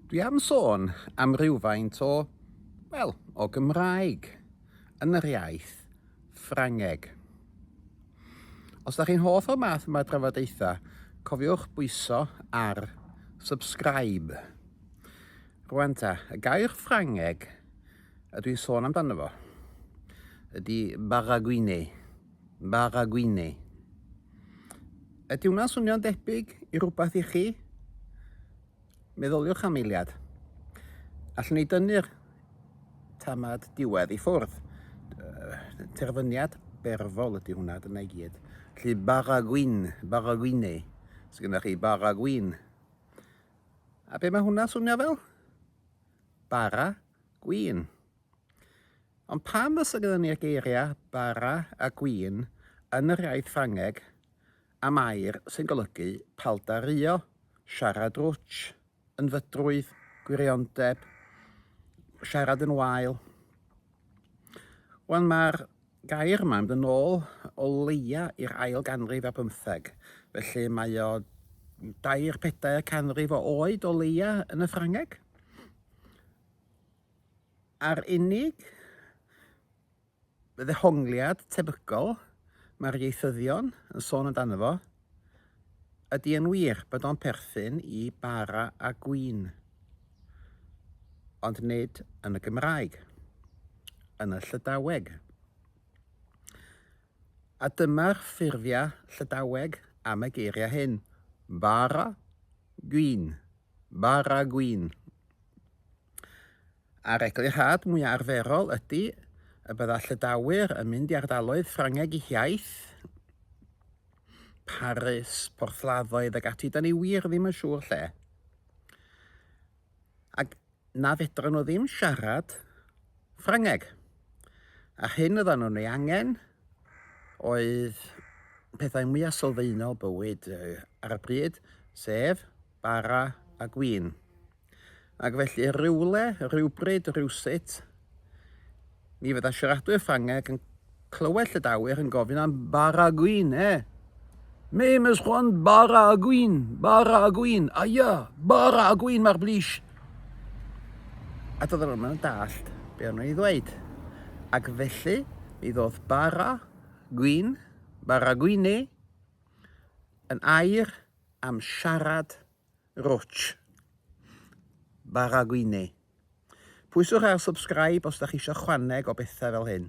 Dwi am sôn am rywfaint o, wel, o Gymraeg yn yr iaith Ffrangeg. Os da chi'n hoff o'r math yma drafodaethau, cofiwch bwyso ar subscribe. Rwan ta, y gair Ffrangeg ydw i'n sôn amdano fo ydy baragouine. Bag a gwine. Ydy hwnna'n swnio'n debyg i rhywbeth i chi? Meddyliwch am eiliad. Allwn ni dynnu'r tamad diwedd i ffwrdd. Terfyniad berfol ydy hwnna, dyna i gyd. Felly bag a gwyn, bag a gwine. Os gyda chi bag a gwyn. A be mae hwnna'n swnio fel? Bara gwyn. Ond pam fysa gyda ni'r geiriau 'bara' a 'gwin' yn yr iaith Ffrangeg am air sy'n golygu paldaruo, siarad rwtsh, yn fydrwydd, gwiriondeb, siarad yn wael? Wel, mae'r gair yma yn mynd yn ôl o leia i'r ail ganrif ar bymtheg, felly mae o dair pedair canrif o oed o leia yn y Ffrangeg. A'r unig ddehongliad tebygol mae'r ieithyddion yn sôn amdano fo, ydy yn wir bod o'n perthyn i bara a gwin, ond nid yn y Gymraeg, yn y Llydaweg. A dyma'r ffurfiau Llydaweg am y geiriau hyn, bara, gwin, bara gwin. A'r eglurhad mwya arferol ydy y bydda Llydawyr yn mynd i ardaloedd Ffrangeg i hiaith, Paris, Porthladdoedd ag ati, da ni wir ddim yn siŵr lle. Ac na fedrwn nhw ddim siarad Ffrangeg. A'r hyn oeddan nhw'n ei angen oedd pethau mwya sylfaenol bywyd ar y pryd, sef bara a gwin. Ac felly rywle, rywbryd, rywsut, mi fydda siaradwyr Ffrangeg yn clywed Llydawyr yn gofyn am bara a gwin, e? Me mes chwan bara a gwin, bara a gwin, aia, bara a gwin mae'r blis. A doedd nhw'n mynd dallt be o'n nhw'n ei ddweud. Ac felly, mi ddodd bara, gwyn, bara gwyneu, yn air am siarad Roch Baragwine. Pwyswch ar subscribe os da chi isio chwaneg o bethau fel hyn.